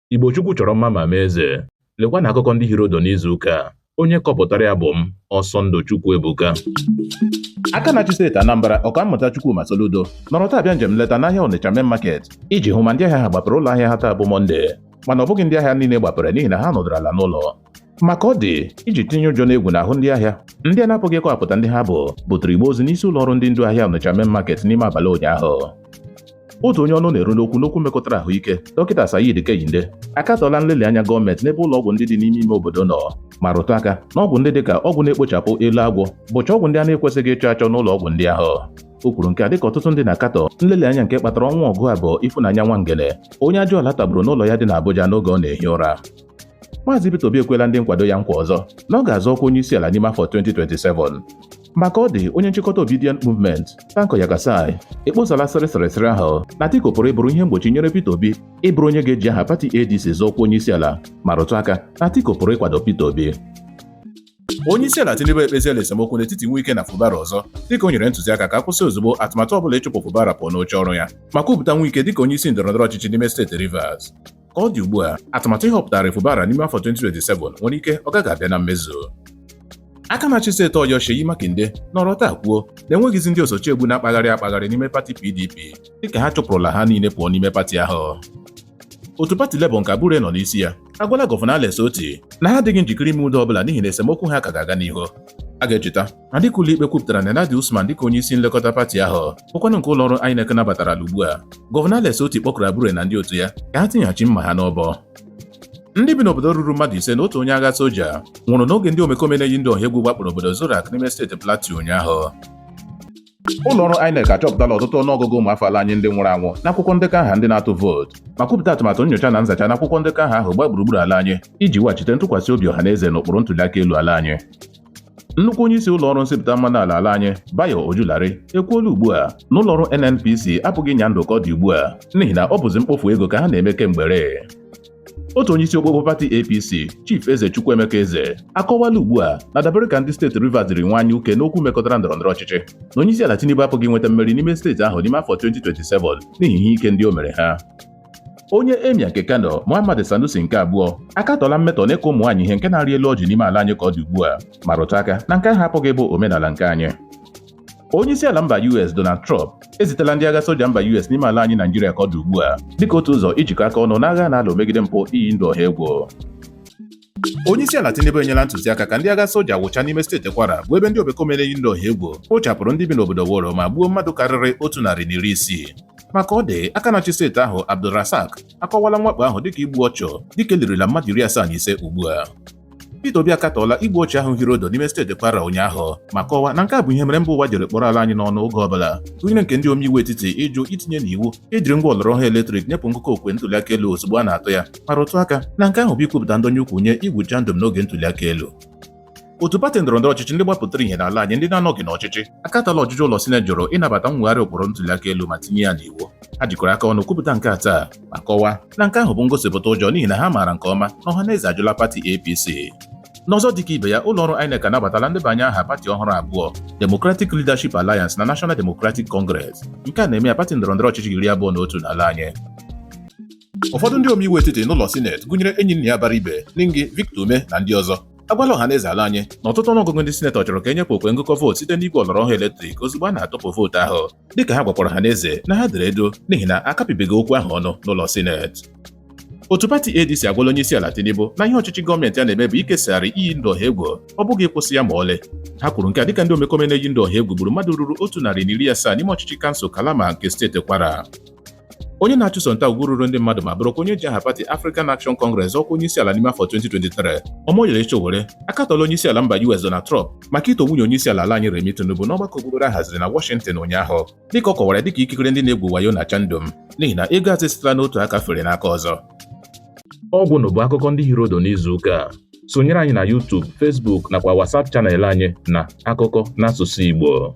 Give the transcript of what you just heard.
Igbo Chukwu chọrọ mma ma mee eze. Lekwa na akụkọ ndị hịrị ọdụ n'izu ụka a. Onye kọpụtara ya bụ m, Ọsọndụ Chukwuebuka. aka na-achị steeti Anambra ọkammụta Chukwuma Soludo nọrọ taa bịa njem nleta n'ahịa Onitsha Main Market iji hụ ma ndị ahịa ha gbapere ụlọ ahịa ha taa bụ Mọnde mana ọ bụghị ndị ahịa niile gbapere n'ihi na ha nọdụrụ ala n'ụlọ ma ka ọ dị iji tinye ụjọ na egwu n'ahụ ndị ahịa ndị a na-apụghị ịkọwapụta ndị ha bụ butere igbe ozu n'isi ụlọ ọrụ ndị ndu ahịa Onitsha main market n'ime abalị ụnyaahụ otu onye ọnụ na-eru n'okwu n'okwu mekọtara ahụike dọkịta Saheed Kehinde akatọla nlelị anya gọọmenti n'ebe ụlọ ọgwụ ndị dị n'ime ime obodo nọ ma rụtụ aka na ọgwụ ndị dịka ọgwụ na-ekpochapụ elu agwọ bụcha ọgwụ ndị a na-ekwesịghị ịchọ achọ n'ụlọ ọgwụ ndị ahụ o kwuru nke a dịka ọtụtụ ndị na-akatọ nlelị anya nke kpatara ọnwụ ọgụ abụ Ifunanya Nwangene onye ajụala tagburu n'ụlọ ya dị n'Abuja n'oge ọ na-ehi ụra Maazị Peter Obi ekwela ndị nkwado ya nkwa ọzọ na ọ ga-azọ ọkwa onye isi ala n'ime afọ 2027 ma ka ọ dị onye nchịkọta Obidient Movement Tanko Yakasai ekposala sịrịsịrịsịrị ahụ na Atiku pụrụ ịbụrụ ihe mgbochi nyere Peter Obi ịbụrụ onye ga-eji aha pati ADC zọọ ọkwa onye isi ala ma rụtụ aka na Atiku pụrụ ịkwado Peter Obi onye isi ala Tinubu ekpeziela esemokwu n'etiti Wike na Fubara ọzọ dịka o nyere ntụziaka ka a kwụsị ozugbo atụmatụ ọbụla ịchụpụ Fubara pụọ n'oche ọrụ ya ma kwupụta Wike dịka onye isi ndọrọndọrọ ọchịchị n'ime steeti Rivers Ka ọ dị ugbu a, atụmatụ ịhọpụtara Fubara n'ime afọ 2027 nwere ike ọ gaghị abịa na mmezu. Aka na-achị steeti Ọyọ Seyi Makinde nọrọ taa kwuo na e nweghịzi ndị osochiegbu na-akpagharị akpagharị n'ime pati PDP dịka ha chụpụrụla ha niile pụọ n'ime pati ahụ. Otu pati Labour nke Abure nọ n'isi ya agwala gọvanọ Alex Otti na ha adịghị njikere ime udo ọbụla n'ihi na esemokwu ha ka ga-aga n'ihu. A ga-echeta na dịka ụlọikpe kwupụtara Nenadi Usman dịka onye isi nlekọta pati ahụ bụkwanụ nke ụlọọrụ INEC nabatarala ugbu a gọvanọ Alex Otti kpọkuru Abure na ndị otu ya ka ha tinyeghachi mma ha n'ọbọ ndị bi n'obodo ruru mmadụ ise na otu onye agha soja nwụrụ n'oge ndị omekome na-eyi ndụ ọha egwu gbakpọrọ obodo Zurak n'ime steeti Plateau ụnyaahụ ụlọọrụ INEC achọpụtala ọtụtụ ọnụọgụgụ ụmụafọ ala anyị ndị nwụrụ anwụ n'akwụkwọ ndekọ aha ndị na-atụ vootu ma kwupụta atụmatụ nyocha na nzacha n'akwụkwọ ndekọ aha ahụ gbaa gburugburu ala anyị iji weghachite ntụkwasị obi ọha na eze n'ụkpụrụ ntụliaka elu ala anyị nnukwu onye isi ụlọọrụ nsịpụta mmanụ ala ala anyị Bayo Ojulari ekwuola ugbu a na ụlọọrụ NNPC apụghị ịnya ndụ ka ọ dị ugbu a n'ihi na ọ bụzi mkpofu ego ka ha na-eme kemgbe otu onye isi okpokpo pati apc chief eze chukwuemeka eze akọwala ugbu a na dabere ka ndị steeti rivers jiri nwanye uke n'okwu mekọtara ndọrọndọrọ ọchịchị na onye isi ala tinubu apụghị inweta mmeri n'ime steeti ahụ n'ime afọ 2027 n'ihi ihe ike ndị o mere ha onye emir nke kano muhammad sanusi nke abụọ akatọla mmetọ na ịkụ ụmụ nwaanyị ihe nke na-arị elu ọjị n'ime ala anyị ka ọ dị ugbu a ma rụtụ aka na nke ahụ apụghị ịbụ omenala nke anyị Onye isi ala mba US Donald Trump ezitela ndị agha soja mba US n'ime ala anyị Naijiria ka ọ dị ugbu a dịka otu ụzọ ijikọ aka ọnụ n'agha a na-alụ megide mpụ iyi ndụ ọha egwu. Onye isi ala Tinubu enyela ntụziaka ka ndị agha soja wụcha n'ime steeti Kwara bụ ebe ndị omekome na-eyi ndụ ọha egwu kpochapụrụ ndị bi n'obodo Woro ma gbuo mmadụ karịrị otu narị na iri isii. Maka ọ dị aka na-achị steeti ahụ AbdulRazaq akọwala mwakpo ahụ dịka igbu ọchụ dịka e lirila mmadụ iri asaa na ise ugbu a. Peter Obi akatọọla igbu ọchụ ahụ hiri odo n'ime steeti Kwara ụnyaahụ ma kọwaa na nke a bụ ihe mere mba ụwa jiri kpọrọ ala anyị n'ọnụ oge ọbụla gụnyere nke ndị omeiwu etiti ịjụ itinye n'iwu ejiri ngwa ọlọrọ ọhụrụ eletrik nyepụ ngụkọ okwe ntụliaka elu ozugbo a na-atụ ya ma rụtụ aka na nke ahụ bụ ikwupụta ndọnye ụkwụ nye igwu chandum n'oge ntụliaka elu otu pati ndọrọ ndọrọ ọchịchị ndị gbapụtara ihe n'ala anyị ndị na-anọghị n'ọchịchị akatọla ọjụjụ ụlọ sineti jụrụ ịnabata mwegharị ụkpụrụ ntụliaka elu ma tinye ya n'iwu ha jikọrọ aka ọnụ kwupụta nke a taa ma kọwaa na nke ahụ bụ ngosipụta ụjọ n'ihi na ha maara nke ọma na ọhaneze ajụla pati APC n'ọzọ dịka ibe ya ụlọọrụ INEC anabatala ndebanye aha pati ọhụrụ abụọ Democratic Leadership Alliance na National Democratic Congress nke a na-eme ya pati ndọrọndọrọ ọchịchị iri abụọ na otu n'ala anyị ụfọdụ ndị omeiwu etiti n'ụlọ sineti gụnyere Enyinnaya Abaribe Ningi Victor Umeh na ndị ọzọ agwala ọha na eze ala anyị na ọtụtụ ọnụọgụgụ ndị sinetọ chọrọ ka e nyepụ okwe ngụkọ vootu site n'igwe ọlọrọ ọhụụ eletrik ozugbo a na-atụpụ vootu ahụ dịka ha gwakwara ọhaneze na ha dere edo n'ihi na a kapịbeghị okwu ahụ ọnụ n'ụlọ sineti otu pati ADC agwala onye isi ala Tinubu na ihe ọchịchị gọọmenti a na-eme bụ ikesagharị iyi ndụ ọha egwu ọ bụghị ịkwụsị ya ma ọlị ha kwuru nke a dịka ndị omekome na-eyi ndụ ọha egwu gburu mmadụ ruru otu narị na iri asaa n'ime ọchịchị kansụl Kalama nke steeti Kwara onye na-achụso nta ugwu ruru ndị mmadụ ma bụrụkwa onye ji aha pati African Action Congress ọkwa onye isi ala n'ime afọ 2023 Omoyele Sowore akatọla onye isi ala mba US Donald Trump maka ito nwunye onye isi ala ala anyị Remi Tinubu n'ọgbakọ okpukpere a haziri na Washington ụnyaahụ dịka ọ kọwara dịka ikikere ndị na-egwu wayo na chandum n'ihi na ego azụ sitela n'otu aka fere n'aka ọzọ ọ gwụla bụ akụkọ ndị hiri odo n'izu ụka a sonyere anyị na YouTube Facebook nakwa WhatsApp channel anyị na akụkọ n'asụsụ Igbo